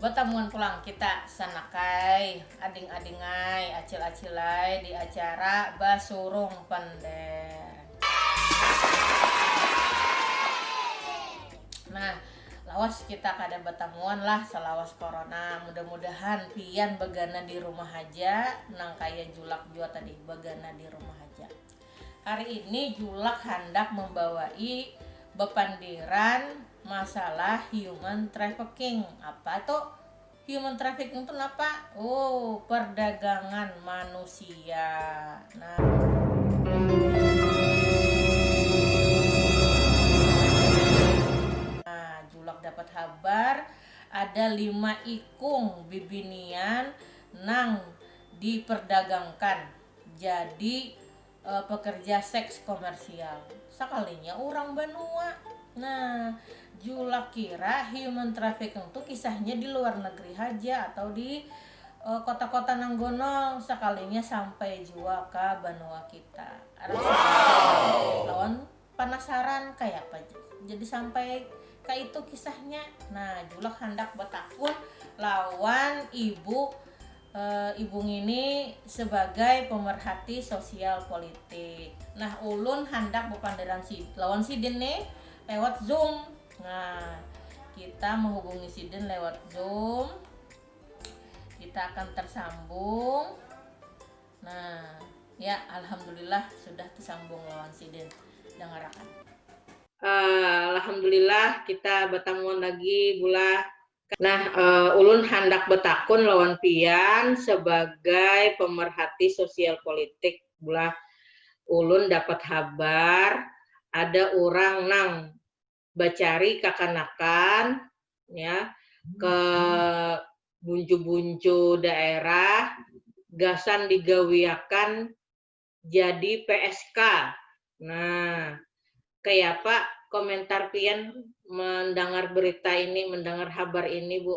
Batamuan pulang kita sanakai ading-adingai, acil-acilai di acara basurung pander. Nah, lawas kita kada batamuan lah salawas corona. Mudah-mudahan pian bagana di rumah haja nangkaya Julak jua tadi bagana di rumah haja. Hari ini Julak handak membawai bepandiran masalah human trafficking. Apa tu human trafficking tu napa? Oh, perdagangan manusia. Nah, Julak dapat habar ada lima ikung bibinian nang diperdagangkan. Jadi pekerja seks komersial. Sakalinya urang banua. Nah, Julak kira human trafficking tu kisahnya di luar negeri haja atau di kota-kota nang gonol, sakalinya sampai jua ka banua kita. Rasa bangga lawan Panasaran kayapa jadi sampai kaitu kisahnya. Nah, Julak handak batakun lawan ibu e, ibu ngini sebagai pemerhati sosial politik. Nah, ulun handak bepanderan si lawan sidin nih lewat Zoom. Nah, kita menghubungi sidin lewat Zoom. Kita akan tersambung. Nah, ya alhamdulillah sudah tersambung lawan sidin. Dangarakan. Uh, alhamdulillah kita bertemu lagi bulah. Nah, uh, ulun handak betakun lawan pian sebagai pemerhati sosial politik bulah ulun dapat habar ada orang nang bacari kakanakan ya ke buncu-buncu daerah gasan digawiakan jadi PSK. Nah, kayapa komentar pian mendengar berita ini, mendengar habar ini, Bu?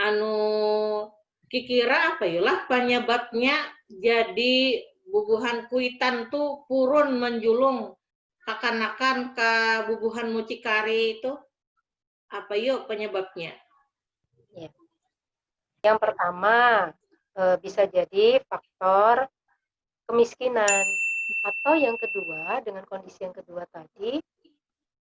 anu kikira apa yu lah panyababnya jadi bubuhan kuitan tu purun manjulung kakanakan ka bubuhan mucikari tu apa yu panyababnya? Ya. Yang pertama e, bisa jadi faktor kemiskinan atau yang kedua dengan kondisi yang kedua tadi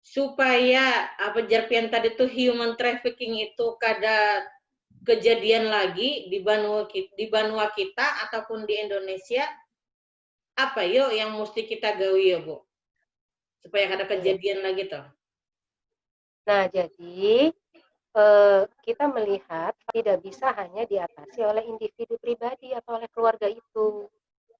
supaya apa jar pian tadi tuh human trafficking itu kada kejadian lagi di banua di banua kita ataupun di Indonesia apa yo yang mesti kita gawi yo bu supaya kada kejadian hmm. lagi tuh nah jadi eh, kita melihat tidak bisa hanya diatasi oleh individu pribadi atau oleh keluarga itu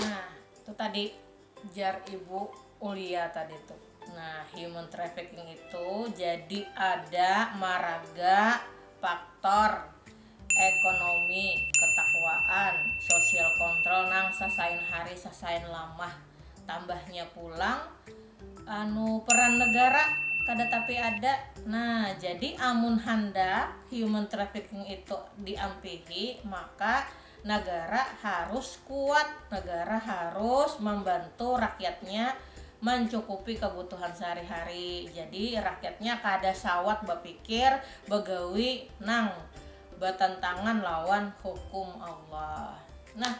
nah itu tadi jar ibu Ulia tadi tuh nah human trafficking itu jadi ada maraga faktor ekonomi ketakwaan sosial kontrol nang sasain hari sasain lamah tambahnya pulang anu peran negara kada tapi ada nah jadi amun handak human trafficking itu diampihi maka Negara harus kuat, negara harus membantu rakyatnya mancukupi kebutuhan sehari-hari. Jadi rakyatnya kada sawat bapikir begawi nang batantangan lawan hukum Allah. Nah,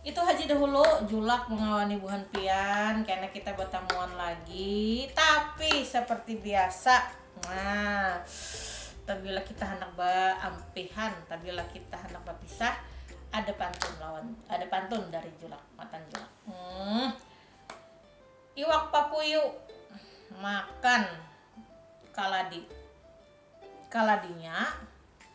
itu haja dahulu julak mengawani buhan pian, kena kita batamuan lagi. Tapi seperti biasa nah tabila kita hendak beampihan tabila kita hendak berpisah ada pantun lawan ada pantun dari julak matan julak hmm. iwak papuyu makan kaladi kaladinya